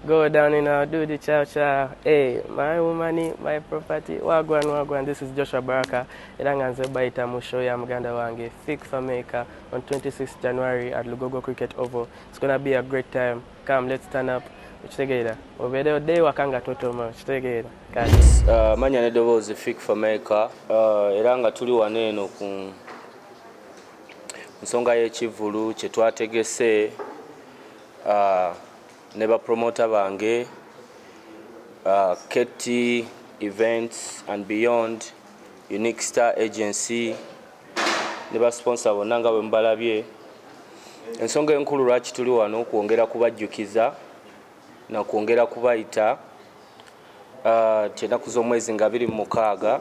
Go down and I'll do the chow chow. Hey, my woman, my property. Wagwan, wagwan. This is Joshua Baraka. Iranga Nzebaita Musho ya Muganda Wange. Fig for Maker on 26th January at Lugogo Cricket Oval. It's going to be a great time. Come, let's turn up. Chitegeera. Obede ode wakanga toto ma. Chitegeera. Yes, uh, manya ne dobozi Fig for Maker. Uh, iranga tuli waneno ku Ku nsonga y'ekivvulu kye twategese ne bapromoota bange Ketti Events and Beyond, Unique Star Agency ne basiponsa bonna nga bwe mubalabye, ensonga enkulu lwaki tuli wano kwongera kubajjukiza na kwongera kubayita nti ennaku z'omwezi nga abiri mu mukaaga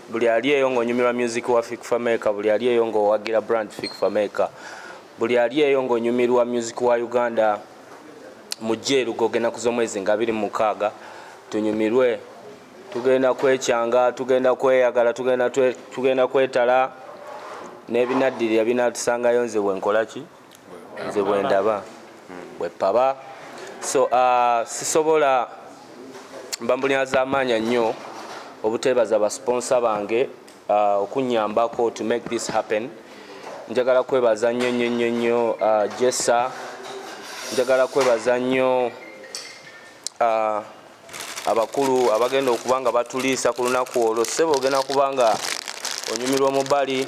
buli ali eyo ng'onyumirwa music wa Fik Fameka buli ali eyo ng'owagira brand Fik Fameka buli ali eyo ng'onyumirwa music wa Uganda mujje erugogo ennaku z'omwezi nga abiri mu mukaaga tunyumirwe tugenda kwekyanga tugenda kweyagala tugenda kwetala n'ebinaddirira binaatusangayo nze bwe nkola ki nze bwendaba bwepaba so uh, sisobola mbambulina zamaanya nnyo obuteebaza basponsa bange uh, okunyambako to make this happen njagala kwebaza nnyo nnyo nnyo nnyo uh, jesa njagala kwebaza nnyo uh, abakulu abagenda okuba nga batuliisa ku lunaku olwo ssebo ogenda kuba nga onyumirwa omubali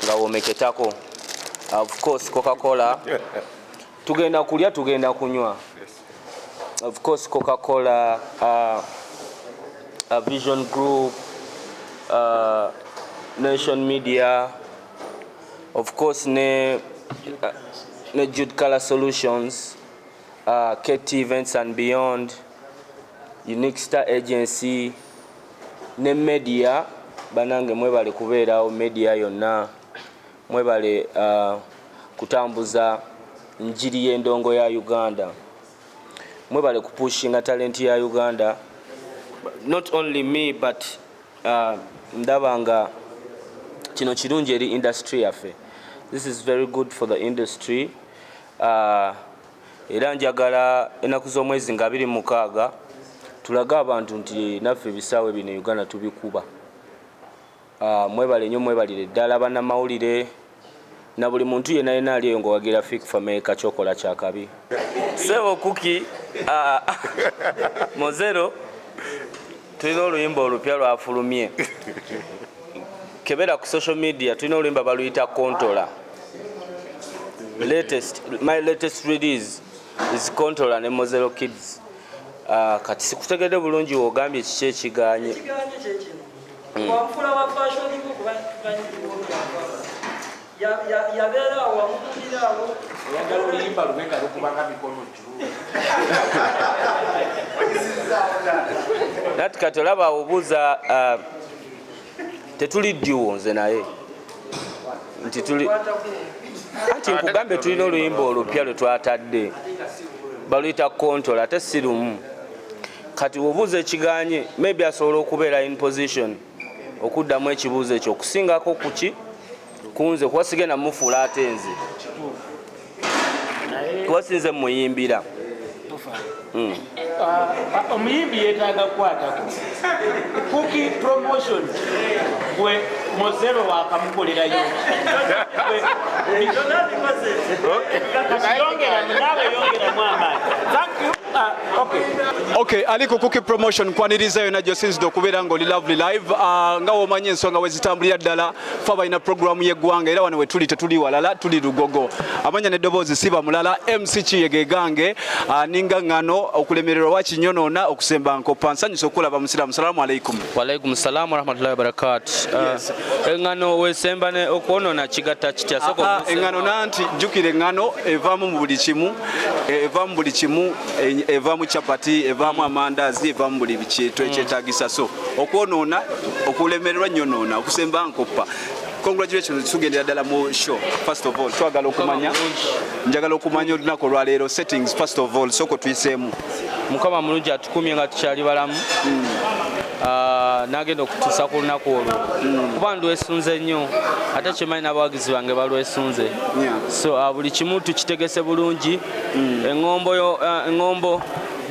nga womeketako ofcourse cocacola tugenda kulya tugenda kunywa ofcourse cocacola uh, uh, vision group uh, nation media ofcourse ne, uh, ne jude color solutions Uh, KT Events and Beyond, Unique Star Agency ne media banange mwebale kubeerawo media yonna mwebale uh, kutambuza njiri y'endongo ya Uganda mwebale kupushinga talenti ya Uganda not only me but uh, ndaba nga kino kirungi eri industry yaffe this is very good for the industry Ah, era njagala ennaku z'omwezi nga abiri mukaaga tulage abantu nti naffe ebisaawe bino Uganda tubikuba. Ah, mwebale nyo mwebalire ddala banamawulire na buli muntu yena yena ali eyo nga owagira Fik Fameka kyokola kyakabi. Sebo Kuki ah, Mozero. tulina oluyimba olupya lwafulumye kebera ku social media tulina oluyimba baluyita kontola latest my latest release is controller ne mozero kids uh, kati sikutegedde bulungi wogambye kiki ekiganye hmm. yabeera awamukira awo oyagala oluyimba lubeka lukubanga mikono juu nati kati olaba obuuza uh, tetuli ddiwo nze naye nti tuli anti nkugambe tulina oluyimba olupya lwe twatadde baluyita kontola ate si lumu kati wobuuza ekiganye maybe asobola okubeera in position okuddamu ekibuuzo ekyo okusingako kuki kunze kuba sigenda mufuula ate nze kuba sinze muyimbira hmm. ah, omuyimbi yetaaga kukwatako kuki promotion gwe mozero wakamukolerayo yongeramu naawe yongeramu amaani Ah, okay. Okay, ali ku Cookie Promotion kwaniriza yona gyo sinzidde okubeera nga oli Lovely Live uh, nga womanyi ensonga bwe zitambulira ddala fa balina programu y'eggwanga era wano wetuli tetuli walala tuli lugogo amanya n'eddoboozi siba mulala MC Kiyege gange uh, ninga ngano okulemererwa wakinyonoona okusemba nkoppa nsanyusa okulaba musiraamu salaamu alaikum waalaikum salaamu warahmatullahi wabarakaatu uh, yes. engano wesemba ne okwonoona kigatta kitya sooka ah, ah, engano nanti jjukira engano evaamu mu buli kimu Eh, eva mu buli kimu eh, eva mu chapati eva mu amandazi eva mu buli bikintu ekyetagisa so okwonoona okulemererwa nyonoona okusemba nkoppa congratulations tugendera ddala mu show first of all twagala okumanya njagala okumanya olunaku olwaleero settings first of all soko tuyiseemu mukama mulungi atukumye nga tukyali balamu mm. Ah, nagenda okutuusa ku lunaku olwo hmm. kuba ndwesunze nnyo ate kyemanyi n'abawagizi bange balwesunze so ah, buli kimu tukitegese bulungi hmm. eŋombo ah,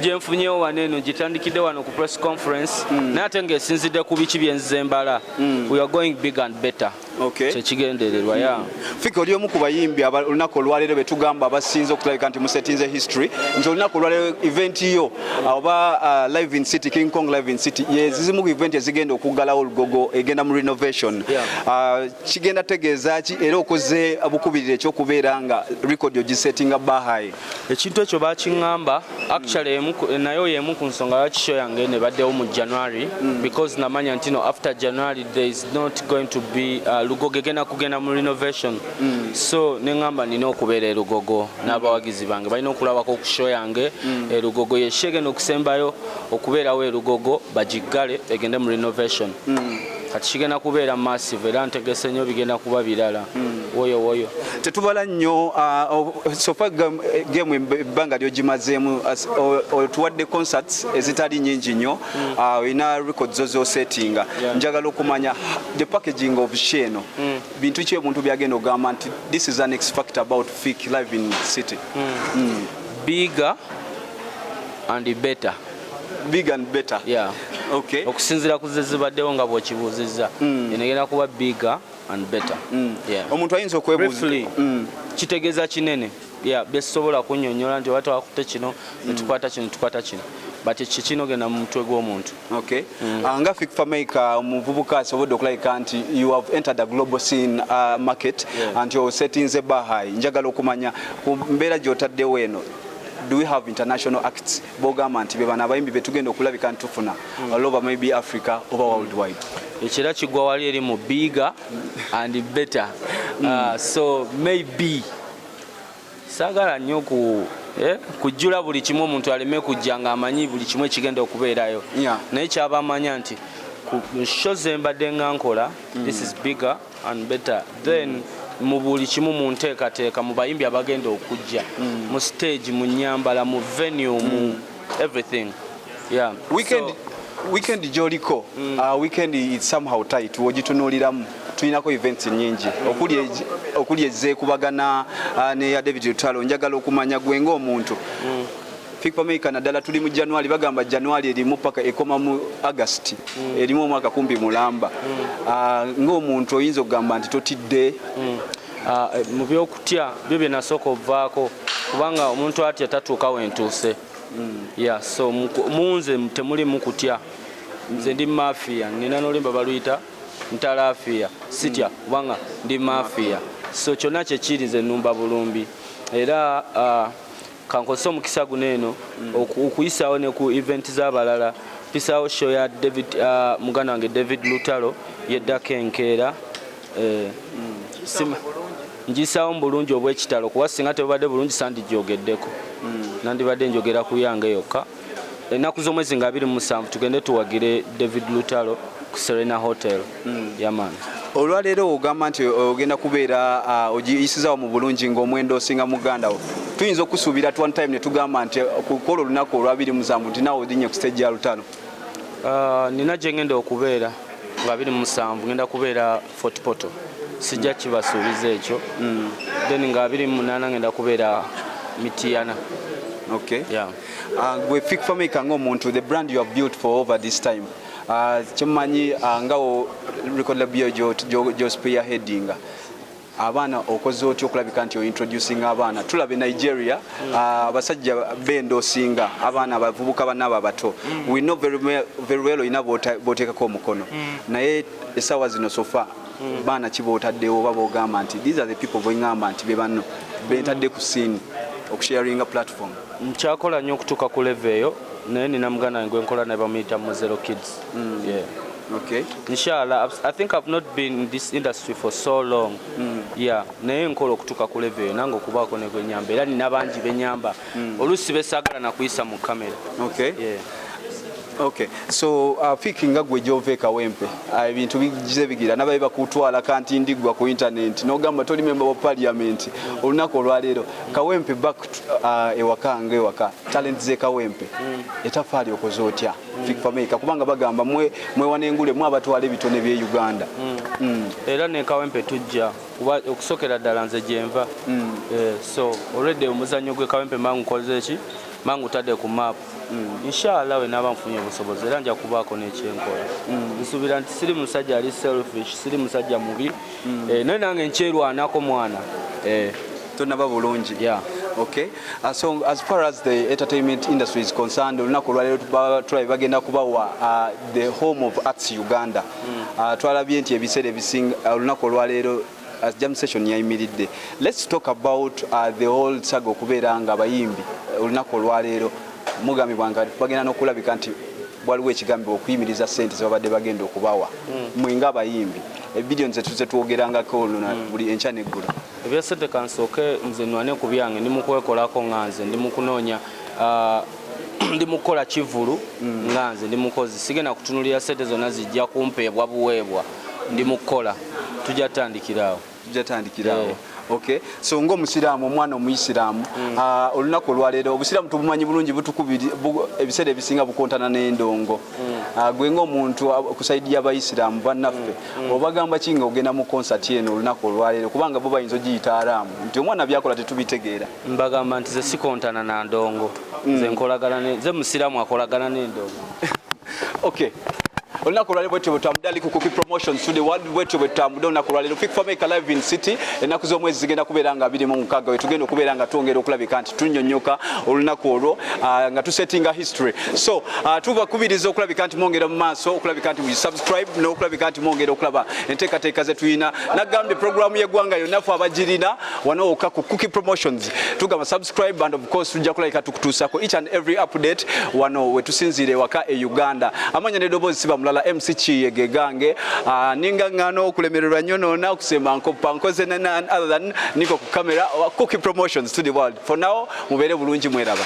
gyenfunyewo wano eno gitandikidde wano ku press conference hmm. naye ate ngaesinzidde ku biki byenzize embala we are going big and better okay. kyekigendererwa ya hmm. fika oli omu ku bayimbi olunaku olwaleero betugamba abasinze okutulabika nti musetinze history nti olunaku olwaleero event yo oba uh, live in city king kong live in city yezizimu ku event ezigenda okuggalawo olugogo egenda mu renovation uh, kigenda tegeeza ki era okoze bukubirira ekyokubeera nga record ogisetinga bahayi ekintu ekyo bakiŋŋamba actually nayo y'emu ku nsonga lwaki show yange nebaddewo mu january mm. because namanya nti no after january there is not going to be uh, lugogo egenda kugenda mu renovation mm. so neŋŋamba nina okubeera erugogo mm. n'abawagizi bange balina okulabako ku show yange erugogo yesho egenda okusembayo okubeerawo erugogo bagiggale egende mu renovation kati kigenda kubeera massive era ntegese nnyo bigenda kuba birala hmm. woyo woyo tetubala nnyo ah, oh, sofa eh, game ebbanga lyogimazeemu otuwadde concerts ezitali nyingi nnyo hmm. ah, olina record zo zosettinga njagala okumanya the packaging of sho eno hmm. bintu ki omuntu byagenda ogamba nti this is an ex factor about fik live in city biga and better big and better yeah. okay. okusinzira ku zezibaddewo nga bwekibuuzizza mm. enegenda kuba bigger and better mm. yeah. omuntu ayinza okwebuuza mm. kitegeeza kinene yeah, byesobola kunyonyola nti oba twakute kino mm. netukwata kino tukwata kino but kikino genda mu mutwe gw'omuntu okay. mm. uh, nga fikfamaika omuvubuka asobodde okulabika nti you have entered a global scene uh, market yeah. anti osetinze bahai njagala okumanya ku mbeera gyotaddewo eno do we have international acts bogamba nti bebano abayimbi betugenda okulabika ntufuna hmm. aloba maybe africa oba worldwide ekira kigwa wali eri mu biga and better hmm. uh, so maybe sagala nyo ku eh, kujjula buli kimu omuntu aleme kujja nga amanyi buli kimu ekigenda okubeerayo naye kyabamanya nti ku sho zembadde nga nkola hmm. this is bigger and better then mm. mu buli kimu mu nteekateeka mu bayimbi abagenda okujja mm. mu stage mu nyambala mu venue mm. mu everything yeah. weekend, so, weekend gyoliko mm. uh, weekend is somehow tight wogitunuuliramu tulinako events nyingi okuli ezekubagana uh, neya david lutalo njagala okumanya gwe ngaomuntu mm. People maker naddala tuli mu January bagamba January erimu paka ekoma mu August mm. erimu omwaka kumpi mulamba mm. uh, ah, ng'omuntu oyinza okugamba nti totidde mm. uh, mu byokutya byo byenasooka ovaako kubanga omuntu atya tatuuka wentuuse mm. yeah, so munze temulimu kutya nze ndi mafia nina nolimba baluyita ntalafia sitya mm. kubanga ndi mafia so kyonna kyekiri nze numba bulumbi era uh, Kankozese omukisa guno eno okuyisaawo ne ku event z'abalala mpisaawo show ya David uh, muganda wange David Lutalo yeddako enkeera eh, mm. ngisaawo mu bulungi obw'ekitalo kuba singa tebubadde bulungi sandijoogeddeko mm. nandibadde njogera ku yange yokka ennaku z'omwezi nga abiri mu musanvu tugende tuwagire david lutalo ku serena hotel mm. yaman olwaleero ogamba nti ogenda kubeera uh, ogiyisizawo mu bulungi ngaomwenda osinga muganda wo tuyinza okusuubira t one time ne tugamba nti uh, kukola olunaku olwabiri musanvu nti nawe odinye ku stage ya lutalo uh, nina gyengenda okubeera nga abiri musanvu ngenda kubeera Fort Portal sijja kibasuubiza ekyo mm. then nga abiri mu munaana ngenda kubeera Mityana okay yeah uh, gwe fik fameka ng'omuntu the brand you have built for over this time uh, kyemumanyi uh, nga record label gyospear headinga abaana okoze otya okulabika nti ointroducing abaana tulabe nigeria mm. ah, abasajja mm. uh, benda osinga abaana abavubuka banaabo abato mm. we know very, very well olina boteekako omukono mm. naye esawa zino sofa hmm. baana kibaotaddewo oba bogamba nti these are the people bwengamba nti bebanno bentadde ku siini okusharinga platform nkyakola nnyo okutuuka ku leve eyo naye nina muganda wange gwenkola naye bamuyita mu zero kids mm. yeah. Okay. Inshallah, I think I've not been in this industry for so long. Mm. Yeah, naye nkola okutuka ku level nange okubaako ne gwenyamba era nina bangi benyamba mm. olusi besagala nakuyisa mu camera okay. yeah. Okay. So uh, fiki nga gwe gyova ekawempe uh, ebintu bigize bigira nabaye bakutwala kanti ndigwa ku internet nogamba toli memba wa parliament olunaku olwaleero kawempe back uh, ewaka nga ewaka talent ze kawempe mm. etafaali okoze otya mm. fik fameka kubanga bagamba mwe mwewanengule mwe abatwala ebitone bye uganda mm. Mm. era ne kawempe tujja kuba okusokera ddala nze gyenva mm. eh, so already omuzannyo gwe kawempe mangu nkoze eki mangu tadde ku map mm. inshallah wenaba nfunye obusobozi era nja kubaako nekyenkola mm. nsuubira nti siri musajja ali selfish siri musajja mubi eh, naye nange nkyerwanako mwana eh. tonaba bulungi yeah. okay uh, so as far as the entertainment industry is concerned olunaku olwaleero tulabye bagenda kubawa uh, the home of arts uganda mm. uh, twalabye nti ebiseera ebisinga uh, olunaku olwaleero as jam session yayimiridde let's talk about uh, the whole saga okubeera nga abayimbi uh, olunaku olwaleero mugambibwa nga bagenda nokulabika nti waliwo ekigambibwa okuyimiriza sente zebabadde bagenda okubawa mm. mwe nga abayimbi ebidiyo nze tuze twogerangako oluna mm. buli enkya neggulu ebyesente kansooke nze nwane ku byange ndi mukwekolako nga nze ndi mukunoonya uh, ndi mukukola kivulu mm. nga nze ndi mukozi sigenda kutunulira sente zonna zijja kumpeebwa buweebwa ndi mukukola tujja tutandikiraawo tujja tutandikiraawo yeah. okay so ngo musiramu omwana omuyisiramu mm. uh, olunaku olwaleero obusiramu tubumanyi bulungi butukubiri bu, ebiseera ebisinga bukontana n'endongo mm. uh, gwe ngaomuntu uh, ku saidi y'abayisiramu bannaffe mm. mm. obagamba ki nga ogenda mu konsati eno olunaku olwaleero kubanga bo bayinza ogiyita araamu nti omwana byakola tetubitegeera mbagamba nti zesikontana na ndongo mm. zenkolagana ze musiramu akolagana nendongo okay olunaku olwalero bwetyo bwetutambudde ali ku kuki promotions today world bwetyo bwetutambudde olunaku olwalero fik fameka live in city ennaku z'omwezi zigenda kubeera nga biri mu mukaaga wetugenda okubeera nga twongera okulabika nti tunyonyoka olunaku olwo ah, nga tusettinga history so ah, tubakubiriza okulabika nti mwongera mu maaso okulabika nti subscribe n'okulabika nti mwongera okulaba enteekateeka zetulina nagambye programu y'eggwanga yonna fe abagirina wano wokka ku Cookie Promotions tugamba subscribe and of course tujja kulabika tukutuusako each and every update wano wetusinziira ewaka e Uganda amanya nedoboozi siba mulala MC Kiyege gange ah, ninga ngano okulemererwa nnyo noona okusemba nkoppa nkoze nana other than niko ku camera Cookie Promotions to the world for now mubeere bulungi mweraba